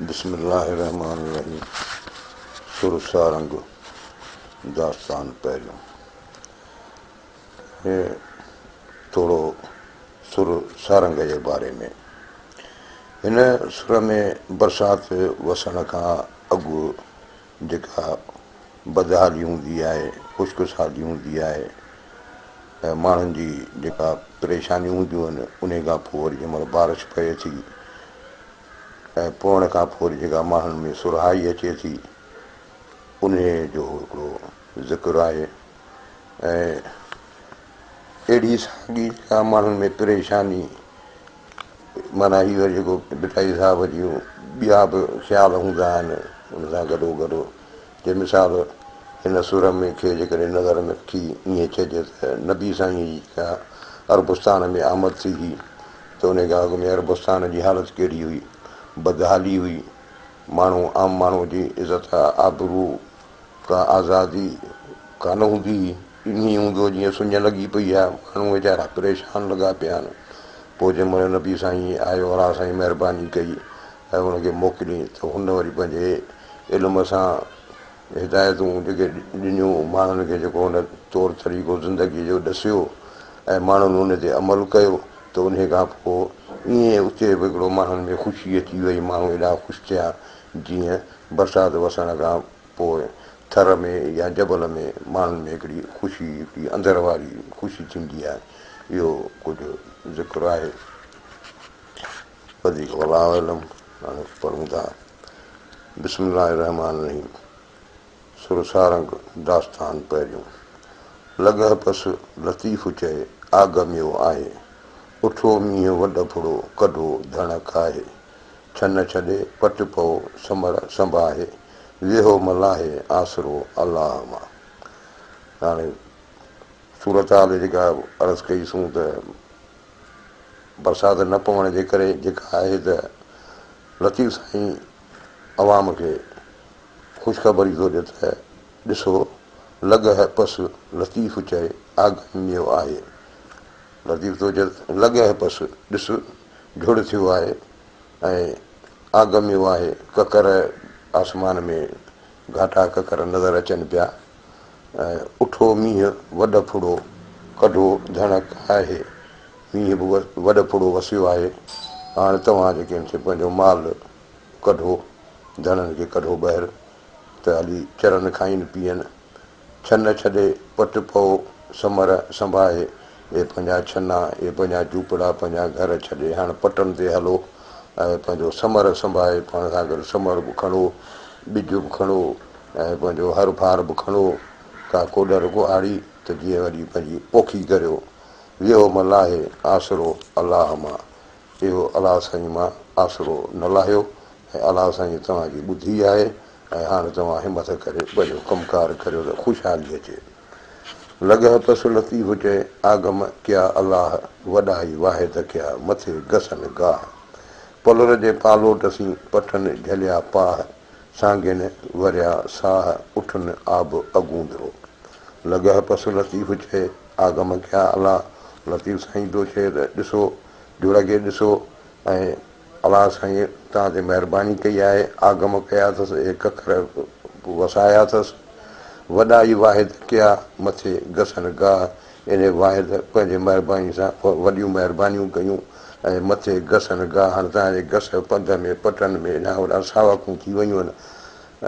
بسم الله الرحمٰن الرحيم سر سارنگ داستان پهريون هي ٿورو سر سارنگ جي باري ۾ هن سر ۾ برسات وسڻ کان اڳ جيڪا بدحالي هوندي آهي، خوشخصالي هوندي آهي ۽ ماڻهن جي جيڪا پريشانيون هونديون آهن انهي کان پوء وري جنهن مهل بارش پئي ٿي ۽ پوڻ کان پوء وري جيڪا ماڻهن ۾ سرهائي اچي ٿي انهي جو هڪڙو ذڪر آهي ۽ اهڙي ساڳي جيڪا ماڻهن ۾ پريشاني معنيٰ هي وري جيڪو ڀٽائي صاحب جون ٻيا به خيال هوندا آهن ان سان گڏو گڏ جي مثال هن سر ۾ کي جيڪڏهن نظر ۾ رکي ائين چئجي ته نبي سائينء جي جيڪا عربستان ۾ آمد ٿي هئي ته ان کان اڳ ۾ عربستان جي حالت ڪهڙي هئي بدحالي هئي ماڻهو عام ماڻهو جي عزت آبرو ڪا آزادي ڪانه هوندي هئي. ائين ئي هوندو جيئن سڃ لڳي پئي آهي. ماڻهو ويچارا پريشان لڳا پيا آهن. پوء جنهن مهل نبي سائين آيو الله سائين مهرباني ڪئي ۽ ان کي موڪليائين ته هن وري پنهنجي علم سان هدايتون جيڪي ڏنيون ماڻهن کي جيڪو هن طور طريقو زندگي جو ڏسيو ۽ ماڻهن ان تي عمل ڪيو ته انهي کان پوء ائين اتي به هڪڙو ماڻهن ۾ خوشي اچي وئي ماڻهو ايڏا خوش ٿيا جيئن برسات وسڻ کان پوء ٿر ۾ يا جبل ۾ ماڻهن ۾ هڪڙي خوشي، هڪڙي اندر واري خوشي ٿيندي آهي. اهو ڪجهه ذڪر آهي. وڌيڪ والله اعلم. هاڻي پڙهون ٿا بسم الله الرحمان الرحيم سر سارنگ داستان پهريون لڳهه پس لطيف چئي آگهميو آهي اٺو مينهن وڏ ڦڙو ڪڍو ڌڻ کاهي ڇن ڇڏي پٽ پئو سمر سنباهي، ويهو ملاهي آسرو الله مان. ته هاڻي صورتحال جيڪا عرض ڪئي سون ته برسات نه پوڻ جي ڪري جيڪا آهي ته لطيف سائين عوام کي خوشخبري ٿو ڏي ته ڏسو لڳ هه پس لطيف چئي آگهن نيو آهي. لطيف ٿو چئي ته لڳ هه پس ڏس جهڙ ٿيو آهي ۽ آگميو آهي ڪڪر آسمان ۾ گهاٽا ڪڪر نظر اچن پيا ۽ اٺو مينهن وڏ ڦڙو ڪڍو ڌڻڪ آهي مينهن به وڏ ڦڙو وسيو آهي هاڻ توهان جي ڪين سي پنهنجو مال ڪڍو ڌڻن کي ڪڍو ٻهر ته هلي چرن کائين پيئن ڇنه ڇڏي پٽ پئو سمر سنڀاهي، اي پنهنجا ڇنا، اي پنهنجا جهوپڙا، پنهنجا گهر ڇڏي هاڻ پٽن تي هلو ۽ پنهنجو سمر سنڀاهي، پاڻ سان گڏ سمر به کڻو، ٻج به کڻو ۽ پنهنجو هر ڀار به کڻو، ڪا ڪوڏر ڪهاڙي ته جيئن وڃي پنهنجي پوکي ڪريو. ويهو ملاحي، آسرو الله مان، اهو الله سائين مان آسرو نه لاهيو ۽ الله سائين توهان جي ٻڌي آهي ۽ هاڻ توهان همٿ ڪري پنهنجو ڪم ڪار ڪريو ته خوشحالي اچي. لڳه پس لطيف چئي آگم ڪيا الله وڏائي واحد ڪيا مٿي گسن گاهه پلر جي پالوٽ سين پٺن جهليا پاهه سانگين وريا ساهه اٺن آب اگوندرو لڳه پس لطيف چئي آگم ڪيا الله لطيف سائين پيو چئي ته ڏسو جوڙ کي ڏسو ۽ الله سائين توهان تي مهرباني ڪئي آهي، آگم ڪيا اٿس، هڪ اکر به وسايا اٿس، وڏا ئي واحد ڪيا، مٿي گسن گاهه انهي واحد پنهنجي مهرباني سان وڏيون مهربانيون ڪيون ۽ مٿي گسن گاهه هاڻ توهان جي گس پنڌ ۾ پٽن ۾ اڏان وڏان ساوڪون ٿي ويون آهن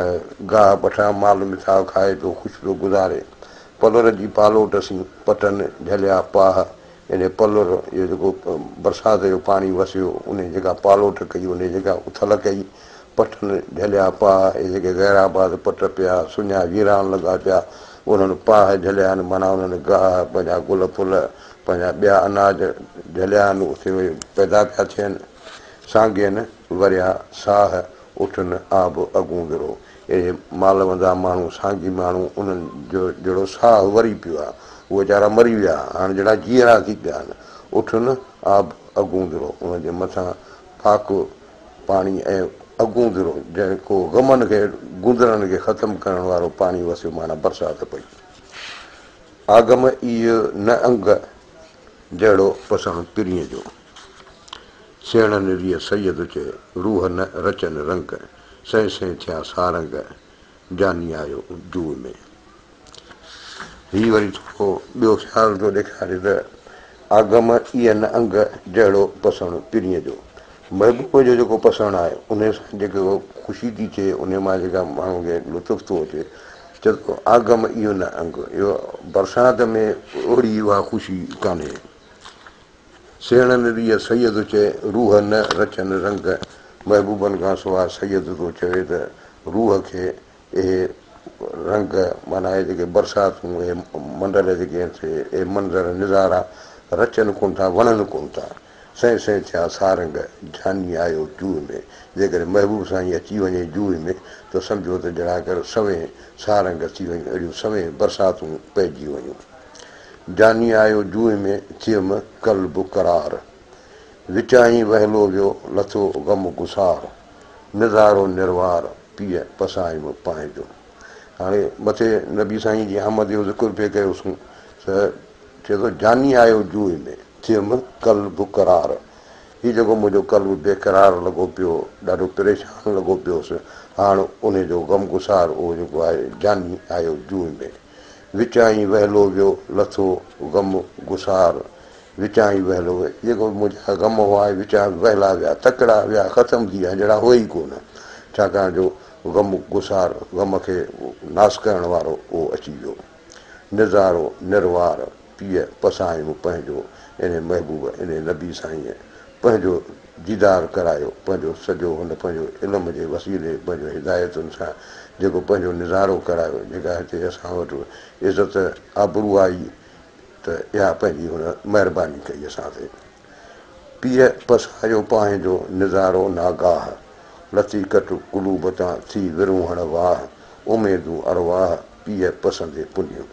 ۽ گاهه پٺران مال مٿاهه کائي پيو خوش پيو گذاري پلر جي پالوٽ سين پٽن جهليا پاهه جڏهن پلر جو جيڪو برسات جو پاڻي وسيو، انهيء جيڪا پالوٽ ڪئي، انهيء جيڪا اٿل ڪئي، پٺن جهليا پاء، اهي جيڪي غير آباد پٽ پيا، سڃا ويران لڳا پيا، انهن پاء جهليا آهن، معنيٰ انهن گاهه، پنهنجا گل ڦل، پنهنجا ٻيا اناج جهليا آهن، اتي اهي پيدا پيا ٿين، سانگين وريا ساهه، اٺ نه آ به اڳون ورو. اهي مالوندا ماڻهو، سانگي ماڻهو، انهن جو جهڙو ساهه وري پيو آ، اهي ويچارا مري ويا، هاڻ جهڙا جيئرا ٿي پيا آهن. اٺ نه آ به اڳون ورو. انهن جي مٿان پاڪ پاڻي ۽ اڳون ورو، جيڪو غمن کي، گوندرن کي ختم ڪرڻ وارو پاڻي وسيو معنيٰ برسات پئي. آگم ايء نه انگ، جهڙو پساهه پرينء جو. سيڻ نريء سيد چئي، روح نه رچن رنگ، سين سين ٿيا سارنگ، جاني آيو جوء ۾. هي وري ٿورو ٻيو خيال ٿو ڏيکاري ته، آگم ايء نه انگ، جهڙو پسڻ پرينء جو. محبوب جو جيڪو پسڻ آهي، انهيء سان جيڪا خوشي ٿي ٿئي، انهيء مان جيڪا ماڻهوء کي لطف ٿو اچي، چئي ٿو، آگم ايء نه انگ، اهو برسات ۾ اوڙي اها خوشي ڪانهي. سيڻن ڏيئي سيد چئي، روح نه رچن رنگ، محبوبن کان سواء سيد ٿو چوي ته روح کي اهي رنگ معنيٰ اهي جيڪي برساتون، اهي منڊل جيڪي آهن سي، اهي منظر نظارا رچن ڪونه ٿا، وڻن ڪونه ٿا. سئين سئين ٿيا سارنگ، جاني آيو جوء ۾، جيڪڏهن محبوب سائين اچي وڃي جوء ۾، ته سمجهو ته ڄڻاڪر سوين سارنگ ٿي وڃن، اهڙيون سوين برساتون پئجي وڃن. جاني آيو جوء ۾ ٿيم قلب قرار. وچائين وهلو ويو لٿو غم گسار. نظارو نروار پيء پسايم پانء جو. هاڻي مٿي نبي سائين جي آمد جو ذڪر پئي ڪيوسون ته چئي ٿو جاني آيو جوء ۾ ٿيم قلب قرار. هي جيڪو منهنجو قلب بي قرار لڳو پيو ڏاڍو پريشان لڳو پيوس هاڻ ان جو غم گسار اهو جيڪو آهي جاني آيو جوء ۾. وچائين ويلو جو لٿو غم گسار وچائين ويلو جيڪو منهنجا غم هئا اهي وچان ويلا ويا تڪڙا ويا ختم ٿي ويا هن جهڙا هئي ئي ڪونه ڇاڪاڻ جو غم گسار غم کي ناس ڪرڻ وارو اهو اچي ويو نظارو نروار پيء پسايم پنهنجو انهي محبوب انهي نبي سائينء پنهنجو ديدار ڪرايو پنهنجو سڄو هن پنهنجو علم جي وسيلي پنهنجو هدايتن سان جيڪو پنهنجو نظارو ڪرايو جيڪا هتي اسان وٽ عزت آبرو آئي ته اها پنهنجي هن مهرباني ڪئي اسان تي پيء پسايو پانهين جو نظارو ناگاهه لٿي ڪٽ قلوب تان ٿي ورونهڻ واهه اميدون ارواح پيء پسندي پنيون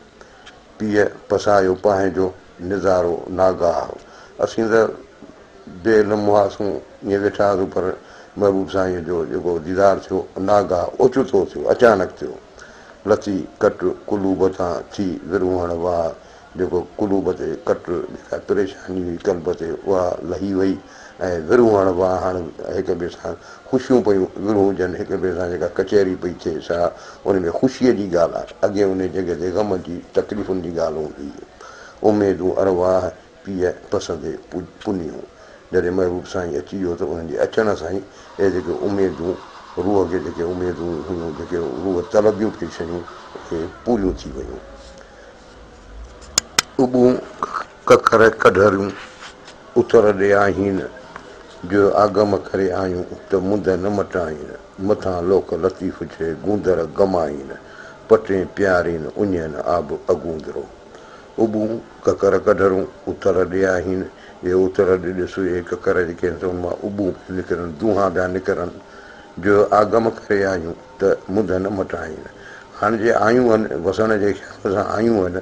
پيء پسايو پنهنجو نظارو ناگاهه اسين ته بي علم هئاسون ائين ويٺا هئاسون پر محبوب سائينء جو جيڪو ديدار ٿيو ناگاهه اوچتو ٿيو اچانڪ ٿيو لٿي ڪٽ قلوب تان ٿي ورهوڻ واهه جيڪو قلوب تي ڪٽ جيڪا پريشاني هئي قلب تي اها لهي وئي ۽ ورهون هاڻ واء هاڻ هڪ ٻئي سان خوشيون پيون ورهون هجن هڪ ٻئي سان جيڪا ڪچهري پئي ٿئي سا ان ۾ خوشيء جي ڳالهه آهي اڳي انهي جڳهه تي غم جي تڪليفن جي ڳالهه هوندي هئي اميدون ارواح پيء پسندي پنيون جڏهن محبوب سائين اچي ويو ته انهن جي اچڻ سان ئي اهي جيڪي اميدون روح کي جيڪي اميدون هيون جيڪي روح طلبيون پيون شيون اهي پوريون ٿي ويون اڳون ڪڪر ڪڍريون اتر ڏي آهين، جو آگم ڪري آيون ته منڌ نه مٽائين، مٿان لوڪ لطيف جي گوندر گمائين، پٽين پيارين اڃين آب اڳوندرو. اٻون ڪڪر ڪڍرون اتر ڏي آهين، اهي اتر ڏي ڏس، اهي ڪڪر جيڪي آهن سو ان مان اٻون پيون نڪرن، دونها پيا نڪرن، جو آگم ڪري آيون ته منڌ نه مٽائين. هاڻ جي آيون هن، وسڻ جي خيال سان آيون هن،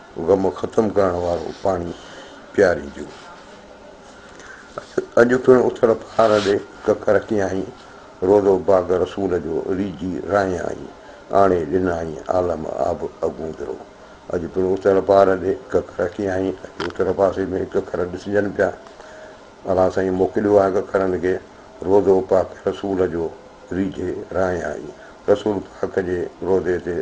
غم ختم ڪرڻ وارو پاڻي پيارينديون. اڄ پڻ اٿل پهاڙ ڏي ڪک رکيائين، روضو باغ رسول جو ريجهي راهيائين، آڻي ڏنائين عالم آب اڳوندرو. اڄ پڻ اٿل پهاڙ ڏي ڪک رکيائين، اڄ اٿل پاسي ۾ ڪکر ڏسجن پيا. الله سائين موڪليو آهي ڪکرن کي، روضو پاڪ رسول جو ريجهي راهيائين، رسول پاڪ جي روضي تي.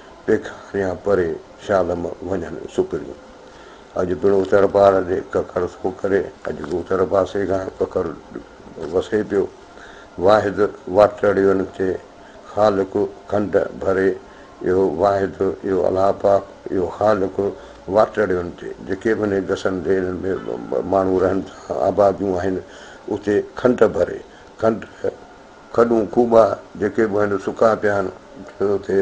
پيڪاريان پري شالم وڃن سڪريون. اڄ پڻ اتر پاڙ ڏي ڪڪر ٿو ڪري، اڄ به اتر پاسي کان ڪڪر وسي پيو. واحد واٽڙيون کي خالق کنڊ ڀري، اهو واحد، اهو الله پاڪ، اهو خالق واٽڙيون تي جيڪي به انهن گسن ڍيرن ۾ ماڻهو رهن ٿا، آباديون آهن، اتي کنڊ ڀري، کنڊ، کڏون کوٻا جيڪي به آهن سڪا پيا آهن ڇو ته اتي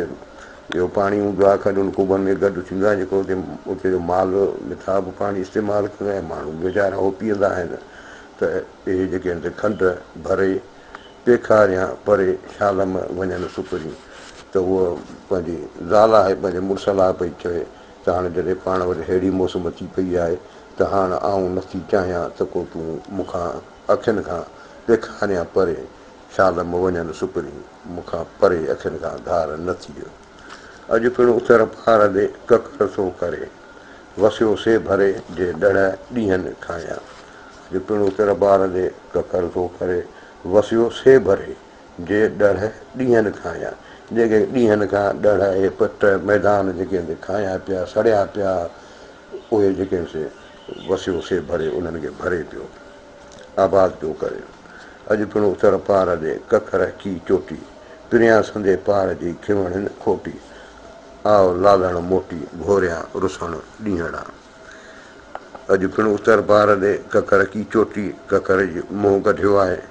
جو پاڻي هوندو آهي کڏن کوٻن ۾ گڏ ٿيندو آهي جيڪو اتي اتي جو مال مٿاهه به پاڻي استعمال ڪندو آهي ماڻهو به ويچارا اهو پيئندا آهن ته اهي جيڪي آهن کنڊ ڀري پيخار يا پري شالم وڃن سپرين ته هوء پنهنجي زال آهي پنهنجي مڙس لاء پئي چوي ته هاڻ جڏهن پاڻ وٽ ههڙي موسم اچي پئي آهي ته هاڻ آئون نٿي چاهيان ته ڪو تون مون کان اکين کان ڏيکاريان پري، شال مون وڃن سپري، مون کان پري اکين کان ڌار نه ٿيء. اڄ پڻ اتر پار ڏي ڪڪر ٿو ڪري، وسيو سي ڀري جي ڏڙهه ڏينهن کانئن. اڄ پڻ اتر پار ڏي ڪڪر ٿو ڪري، وسيو سي ڀري جي ڏڙهه ڏينهن کانئن. جيڪي ڏينهن کان ڏڙهه اهي پٽ ميدان جيڪي هندي کانئن پيا، سڙيا پيا، اهي جيڪي سي وسيو سي ڀري انهن کي ڀري پيو آباد پيو ڪري اڄ پڻ اتر پار ڏي ڪک رهڪي چوٽي پريان سندي پار جي کيوڻين کوٽي آء لالڻ موٽي گهوريان رسڻ ڏينهڙا اڄ پڻ اتر پار ڏي ڪک رهڪي چوٽي ڪکر جي منهن ڪڍيو آهي.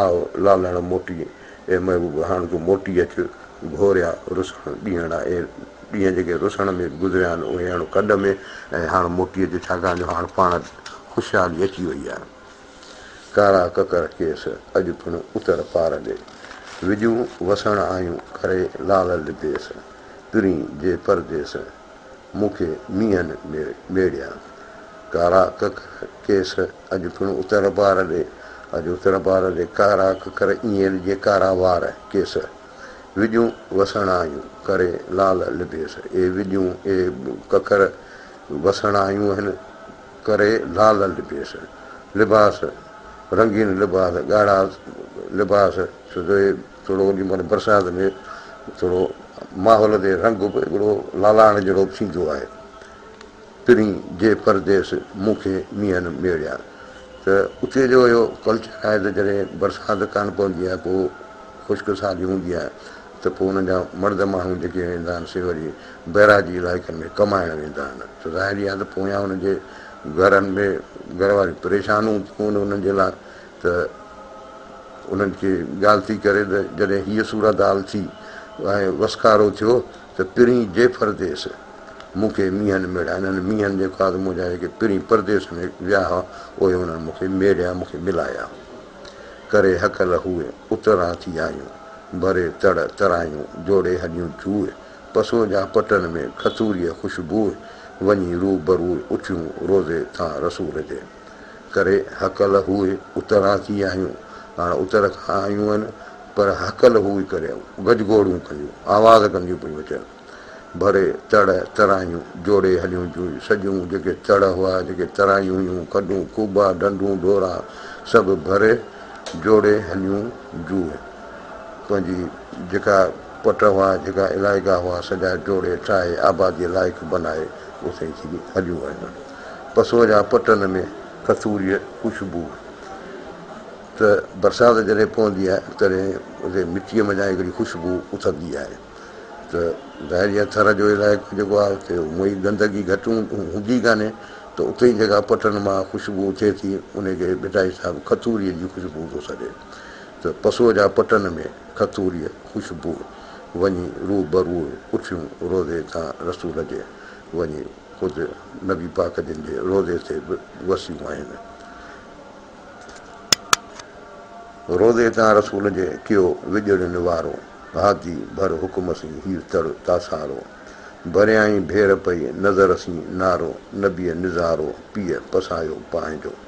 آء لالڻ موٽي، اي محبوب هاڻ تون موٽي اچ، گهوريا رسڻ ڏينهڙا، اي ڏينهن جيڪي رسڻ ۾ گذريا آهن، اهي هڻ ڪڍ ۾ ۽ هاڻ موٽي اچ، ڇاڪاڻ جو هاڻ پاڻ خوشحالي اچي وئي آهي. ڪارا ڪڪر ڪيس، اڄ پڻ اتر پار ڏي، وڄون وسڻ آيون، ڪري لال لديس، ترين جي پرديس، مون کي مينهن ۾ ميڙيا. ڪارا ڪڪ کيس اڄ پڻ اتر بار ڏي، اڄ اتر بار ڏي ڪارا ڪڪر ايئن ڏجي ڪارا وار ڪيس. وڄون وسڻايون ڪري لال لبيس، اي وڄون اي ڪڪر وسڻايون هن ڪري لال لبيس. لباس رنگين لباس ڳاڙها لباس سڌوئي. ٿورو ان مھل برسات ۾ ٿورو ماحول تي رنگ به ھڪڙو لالاڻ جھڙو ٿيندو آھي. پرين جي پرديس مون کي مينھن ميڙيا ته اتي جو اھو ڪلچر آھي ته جڏھن برسات ڪانه پوندي آھي پوء خشڪ سالي ھوندي آھي ته پوء انھن جا مرد ماڻھو جيڪي ويندا آھن سي وري بئراجي علائقن ۾ ڪمائڻ ويندا آھن ته ظاھري آھي ته پويان انھن جي گھرن ۾ گھر واريون پريشان ھونديون آھن انھن جي لاء ته انهن کي ڳالهه ٿي ڪري ته جڏهن هيء صورت حال ٿي ۽ وسڪارو ٿيو ته پرين جي پرديس مون کي مينهن ميڙيا. انهن مينهن جي خواص منهنجا جيڪي پرين پرديس ۾ ويا ها، اهي انهن مون کي ميڙيا، مون کي ملايا. ڪري هڪل هوء اتران ٿي آيون، ڀري تڙ ترايون، جوڙي هڏيون چوء، پسو جا پٽن ۾ کٿوريء خوشبوء، وڃي روبروء اٿيون روضي ٿان رسول جي. ڪري هڪل هوء اتران ٿي آهيون، هاڻ اتر کان آيون هن، پر هڪل هوء ڪري گجگوڙون ڪنديون آواز ڪنديون پيون اچن. ڀري تڙ ترايون جوڙي هليون جون سڄون جيڪي تڙ هئا، جيڪي ترايون هيون، کڏون، کوٻا، ڍنڍون، ڍورا سڀ ڀري جوڙي هليون جون پنهنجي جيڪا پٽ هئا، جيڪا علائقا هئا سڄا جوڙي ٺاهي آباديء لائق بنائي اوسين ٿي هليون ويون. پسوء جا پٽن ۾ کٿوريء خوشبوء ته برسات جڏهن پوندي آهي تڏهن اتي مٽيء منجهان هڪڙي خوشبوء اٿندي آهي ته ظاهر جيئن ٿر جو علائقو جيڪو آهي اتي هونء ئي گندگي گهٽ هوندي ڪانهي ته اتي ئي جيڪا پٽن مان خوشبوء اٿي ٿي انهي کي ڀٽائي صاحب کٿوريء جي خوشبوء ٿو سڏي ته پسوء جا پٽن ۾ کٿوريء خوشبوء وڃي روبروء اٺيون روضي تان رسول جي وڃي خود نبي پاڪ جن جي روضي تي به وسيون آهن. روضي تان رسول جي ڪيو وڄڻ نوارو، هادي ڀر حڪم سين هير تڙ تاسارو، ڀريائين ڀير پئي نظر سين نارو، نبيء نظارو پيء پسايو پنهنجو.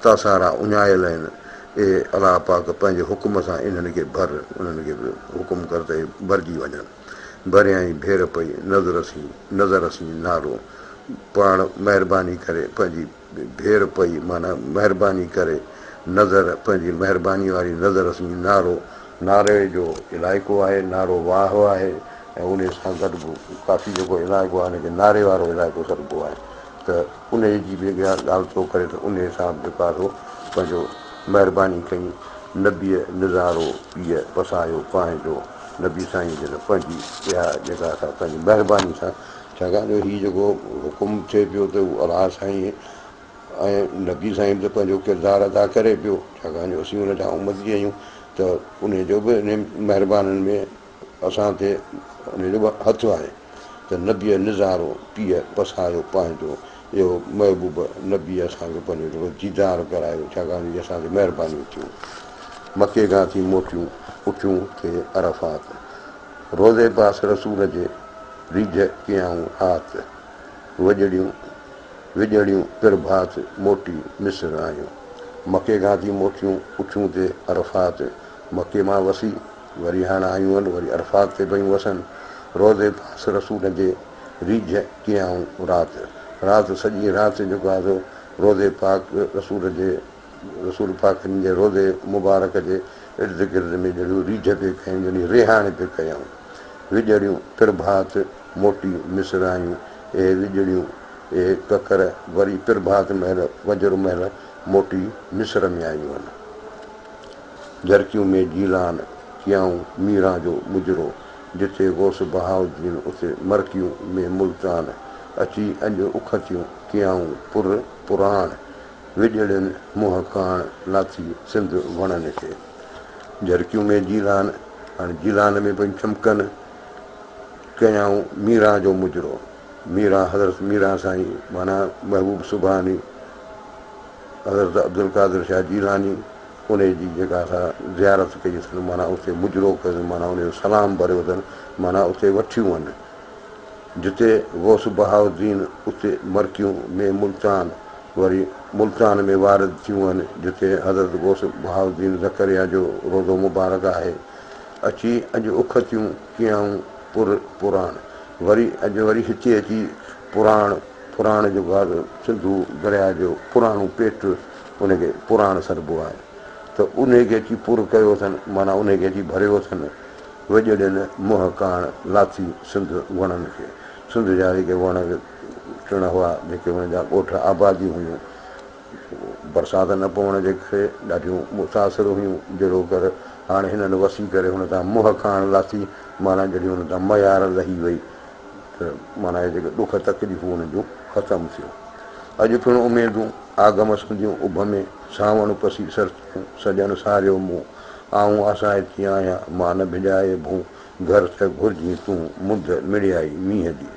تا سارا اڃايل آهن، اي الله پاڪ! پنهنجي حڪم سان انهن کي ڀر، انهن کي به حڪم ڪر ته اهي ڀرجي وڃن. ڀريان ئي ڀير پئي، نذر سين، نذر سين نعرو، پاڻ مهرباني ڪري پنهنجي ڀير پئي معنيٰ مهرباني ڪري، نذر پنهنجي مهرباني واري نذر سين نعرو، نعري جو علائقو آهي، نعرو واهه آهي ۽ انهي سان گڏ به ڪافي جيڪو علائقو آهي ان کي نعري وارو علائقو سڏبو آهي. ته انهيء جي به اها ڳالهه ٿو ڪري ته انهيء سان به بيڪار هو پنهنجو مهرباني ڪئي نبيء نظارو پيء پسايو پانهين جو نبي سائين جن پنهنجي اها جيڪا سا پنهنجي مهرباني سان ڇاڪاڻ جو هي جيڪو حڪم ٿئي پيو ته هو الله سائين ۽ نبي سائين به ته پنهنجو ڪردار ادا ڪري پيو ڇاڪاڻ جو اسين ان جا امتي آهيون ته انهيء جو به انهن مهربانن ۾ اسان کي ان جو به هٿ آهي ته نبيء نظارو پيء پسايو پنهنجو، اي هو محبوب! نبيء اسان کي پنهنجو جهڙو ديدار ڪرايو، ڇاڪاڻ جو هي اسان تي مهربانيون ٿيون. مڪي کان ٿي موٽيون اچون ٿي عرفات، روضي پاس رسول جي ريجهه ڪيائون هات، وڄڙيون وڄڙيون پرڀات موٽي مصر آيون. مڪي کان ٿي موٽيون اچون ٿي عرفات، مڪي مان وسي وري هاڻ آيون هل وري عرفات تي پيون وسن روضي پاس رسول جي ريجهه ڪيائون رات رات سڄي رات جيڪو آهي سو روضي پاڪ رسول جي رسول پاڪ جن جي روضي مبارڪ جي ارد گرد ۾ جهڙيون ريجهه پي ڪيائون جهڙيون ريهاڻي پي ڪيائون وڄڙيون پرڀات موٽي مصر آيون اهي وڄڙيون اهي ڪڪر وري پرڀات مهل فجر مهل موٽي مصر ۾ آيون هل. جھرڪيون ۾ جيلان چيائون ميران جو مجرو جتي غوث بهاؤالدين اتي مرڪيون ۾ ملتان اچي اڄ اکتيون ڪيائون پر پراڻ وڄڙين منهن ڪاڻ ناٿي سنڌ وڻن کي جھرڪيون ۾ جيلان هاڻي جيلان ۾ پيون چمڪن ڪيائون ميران جو مجرو ميران حضرت ميران سائين معنيٰ محبوب سبحاني حضرت عبدالقادر شاھ جيلاني. انهيء جي جيڪا اسان زيارت ڪئي اٿن، معنيٰ اتي مجرو ڪيون، معنيٰ انهيء جو سلام ڀريو اٿن، معنيٰ اتي وٺيون هن، جتي غوث بهاء الدين اتي مرڪيون ۾ ملتان وري ملتان ۾ وارد ٿيون هن، جتي حضرت غوث بهاء الدين زڪريا جو روضو مبارڪ آهي. اچي اڄ اکتيون ڪيائون پر پراڻ، وري اڄ وري هتي اچي پراڻ، پراڻ جو گاد سنڌو درياء جو پراڻو پيٽ، ان کي پراڻ سڏبو آهي ته انهي کي اچي پر ڪيو اٿن، معنيٰ انهي کي اچي ڀريو اٿن، وڄڙين منهن ڪاڻ لاٿي سنڌ وڻن کي، سنڌ جا جيڪي وڻ ٽڻ هئا، جيڪي انهن جا ڳوٺ آباديون هيون، برسات نه پوڻ جي ڪري ڏاڍيون متاثر هيون، جهڙو ڪر هاڻ هنن وسي ڪري هن تان منهن ڪاڻ لاٿي، معنيٰ جهڙي هن تان ميار لهي وئي، ته معنيٰ هي جيڪي ڏک تڪليفون هن جون ختم ٿيون. اڄ پڻ اميدون آگم سنديون اڀ ۾، سانوڻ پسي سرتيون، سڄڻ ساريو مون، آئون آسائتي آهيان، مان نه ڀڄائي ڀون، گهر ته گهرجين تون، مند مڙيائي مينهن جي.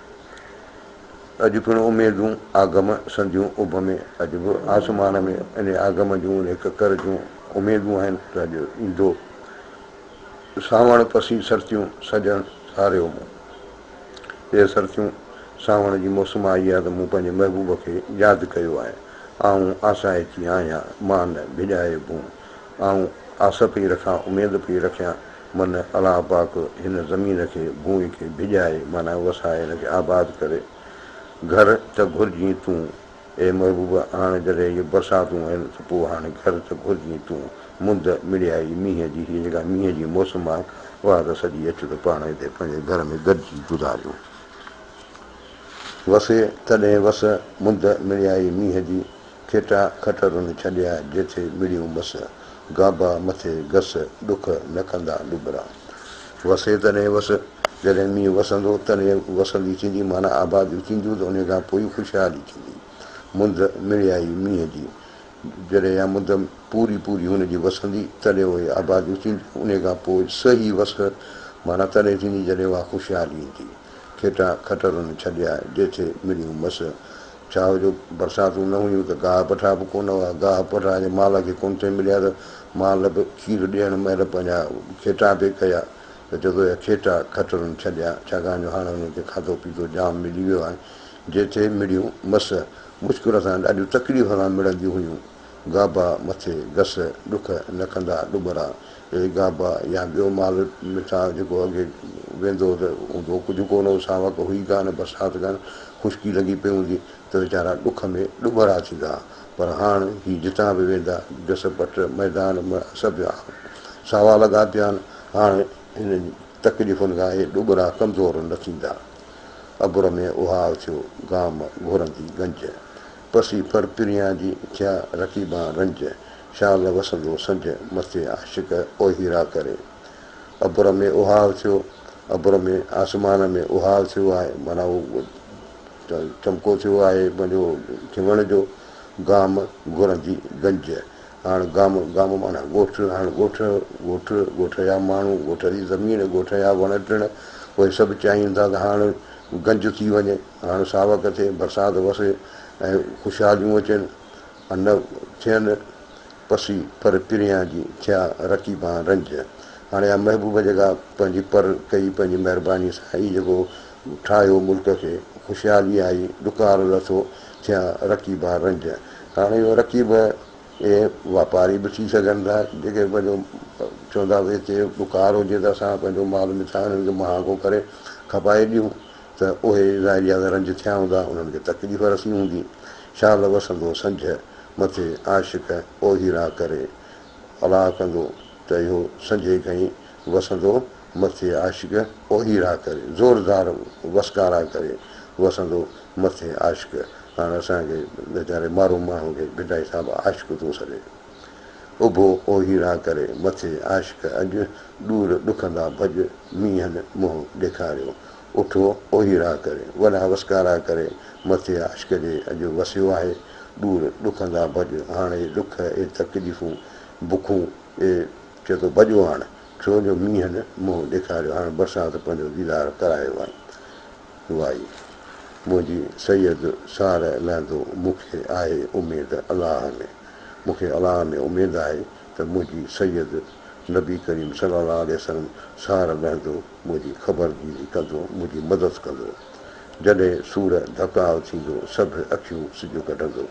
اڄ پڻ اميدون آگم سنديون اڀ ۾، اڄ به آسمان ۾ انهي آگم جون، انهي ڪڪر جون اميدون آهن ته اڄ ايندو. سانوڻ پسي سرتيون سڄڻ ساريو مون. اي سرتيون! سانوڻ جي موسم آئي آ ته مون پنهنجي محبوب کي ياد ڪيو آهي. آئون آسائچ ئي آهيان، مان نه ڀڄائي ڀون. آئون آس پئي رکان، اميد پئي رکيان، من الله پاڪ هن زمين کي، ڀونء کي ڀڄائي معنيٰ وسائي هن کي آباد ڪري. گهر ته گهرجين تون، اي محبوبه هاڻ جڏهن جو برساتون آهن ته پوء هاڻ گهر ته گهرجين تون، مند مڙيائي مينهن جي هيء جيڪا مينهن جي موسم آهي، اها ته سڄي اچ ته پاڻ هتي پنهنجي گهر ۾ گڏجي گذاريون. وسي تڏهن وس، مند مڙيائي مينهن جي، کيٽا کٽرون ڇڏيا جيٿي مڙيون مس، گابا مٿي گس، ڏک نه ڪندا ڏٻرا. وسي تڏهن وس، جڏهن مينهن وسندو تڏهن وسندي ٿيندي معنيٰ آباديون ٿينديون ته انهيء کان پوء ئي خوشحالي ٿيندي. مند مڙيائي مينهن جي جڏهن اها مند پوري پوري هن جي وسندي تڏهن اهي آباديون ٿينديون انهيء کان پوء صحيح وس معنيٰ تڏهن ٿيندي جڏهن اها خوشحالي ايندي. کيٽا کٽرن ڇڏيا، جيٿي مڙيون مس. ڇا جو برساتون نه هيون ته گاهه پٺا به ڪونه هئا. گاهه پٺا جي مال کي ڪونه ٿي مليا ته مال به کير ڏيڻ مهل پنهنجا کيٽا پئي ڪيا ته چوندو اهي کيٽا کٽرن ڇڏيا ڇاڪاڻ جو هاڻ انهن کي کاڌو پيتو جام ملي ويو آهي. جي ٿي مڙيون مس مشڪل سان ڏاڍيون تڪليف سان مڙنديون هيون. گابا مٿي گس ڏک نڪندا ڏٻرا اهي گابا يا ٻيو مال مٿان جيڪو اڳي ويندو هو ته هوندو ڪجهه ڪونه هو، ساوڪ هئي ڪانه، برسات ڪانه، خشڪي لڳي پئي هوندي ته ويچارا ڏک ۾ ڏٻرا ٿيندا ها، پر هاڻ هي جتان به ويندا، جس پٽ، ميدان، مڙهه سڀ جا ساوا لڳا پيا آهن، هاڻ هنن تڪليفن کان اهي ڏٻرا ڪمزور نه ٿيندا. ابر ۾ اهاء ٿيو گام گهرندي گنج، پسي ڦر پريان جي ٿيا رقيبان رنج، شال وسندو سنجهه مٿي عاشق او هيرا ڪري. ابر ۾ اهاو ٿيو، ابر ۾ آسمان ۾ اهاو ٿيو آهي، معنيٰ اهو چمڪو ٿيو آهي منهنجو جهونڙ جو گام گهرندي گنج هاڻ گام گام معنيٰ ڳوٺ هاڻ ڳوٺ ڳوٺ ڳوٺ جا ماڻهو ڳوٺ جي زمين ڳوٺ جا وڻ ٽڻ اهي سڀ چاهين ٿا ته هاڻ گنج ٿي وڃي هاڻ ساوڪ ٿئي برسات وسي ۽ خوشحاليون اچن نه ٿين پسي پر پريان جي، ٿيا رقيبان رنج. هاڻي آ محبوب جيڪا پنهنجي پر ڪئي پنهنجي مهرباني سان اي جيڪو ٺاهيو ملڪ کي خوشحالي آئي ڏڪار لٿو ٿيا رقيبان رنج هاڻي اهو رقيب اهي واپاري به ٿي سگهن ٿا جيڪي پنهنجو چوندا به هتي ڏڪار هجي ته اسان پنهنجو مال مٿان هنن کي مهانگو ڪري کپائي ڏيون ته اهي ظاهري ادا رنج ٿيا هوندا، انهن کي تڪليف رسي هوندي. شال وسندو سنجهه مٿي، عاشق اوهي راء ڪري. الاء ڪندو ته اهو سنجهي کئي، وسندو مٿي عاشق اوهي راء ڪري. زوردار وسڪارا ڪري، وسندو مٿي عاشق. هاڻ اسان کي ويچاري مارو ماڻهو کي ڀٽائي صاحب عاشق ٿو سڏي. اڀو اوهيڙا ڪري مٿي عاشق اڄ، ڏور ڏکندا ڀڄ مينهن منهن ڏيکاريو. اٺو اوهيڙا ڪري، وڏا وسڪارا ڪري مٿي عاشق جي اڄ وسيو آهي، ڏور ڏکندا ڀڄ هاڻي ڏک اي تڪليفون بکون اي چئه ٿو ڀڄو هاڻ ڇو جو مينهن منهن ڏيکاريو هاڻ برسات پنهنجو ديدار ڪرايو آهي. وائي منهنجي سيد سار لهندو مون کي آهي اميد الله ۾ مون کي الله ۾ اميد آهي ته منهنجي سيد نبي ڪريم صلي الله عليه وسلم سار لهندو منهنجي خبرگيري ڪندو منهنجي مدد ڪندو جڏهن سور ڌڪاء ٿيندو سڀ اکيون سج ڪڍندو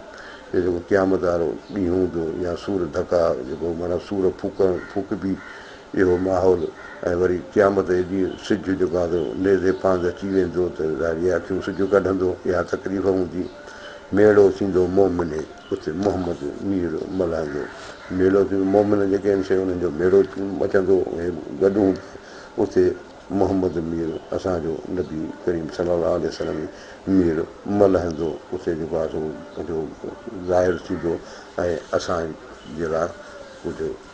اهو جيڪو قيامت وارو ڏينهن هوندو يا سور ڌڪاء جيڪو معنيٰ سور ڦوڪڻ ڦوڪبي اهو ماحول ۽ وري قيامت جي ڏينهن سج جو گانڌو نيزي پانڌ اچي ويندو ته ظاهري اکيون سج ڪڍندو اها تڪليف هوندي ميڙو ٿيندو مومن اتي محمد مير ملهائيندو ميڙو ٿيندو مومن جيڪي آهن سي انهن جو ميڙو مچندو اهي گڏ هوندا اتي محمد مير اسان جو نبي ڪريم صلي الله عليه وسلم مير ملهندو اتي جيڪو آهي سو جو ظاهر ٿيندو ۽ اسان جي لاء ڪجهه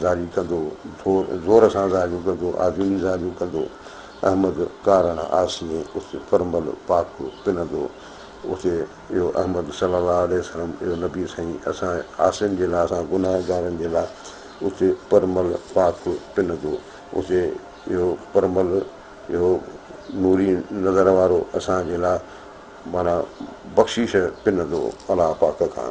زاريون ڪندو، زور سان زاريون ڪندو، آجوڻي زاريون ڪندو، احمد ڪارڻ آسين اتي پرمل پاڪ پنندو، اتي اهو احمد صلي الله عليه وسلم اهو نبي سائين اسان عاصين جي لاء اسان گنهگارن جي لاء اتي پرمل پاڪ پنندو، اتي اهو پرمل اهو نوري نظر وارو اسان جي لاء معنيٰ بخشيش پنندو الله پاڪ کان.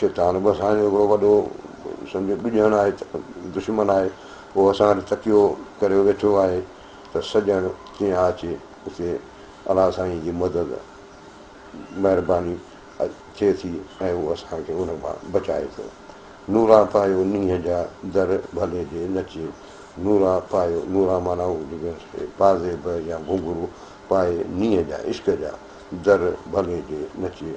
شيطان به اسان جو هڪڙو وڏو سمجهو ٻڄڻ آهي دشمن آهي اهو اسان وٽ تڪيو ڪريو ويٺو آهي ته سڄڻ ڪيئن آ اچي اتي الله سائين جي مدد مهرباني ٿئي ٿي ۽ اهو اسان کي ان مان بچائي ٿو نورا پايو نينهن جا در ڀلي جي نچي نورا پايو نورا معنيٰ پازيب يا گهنگهرو پائي نينهن جا عشق جا در ڀلي جي نچي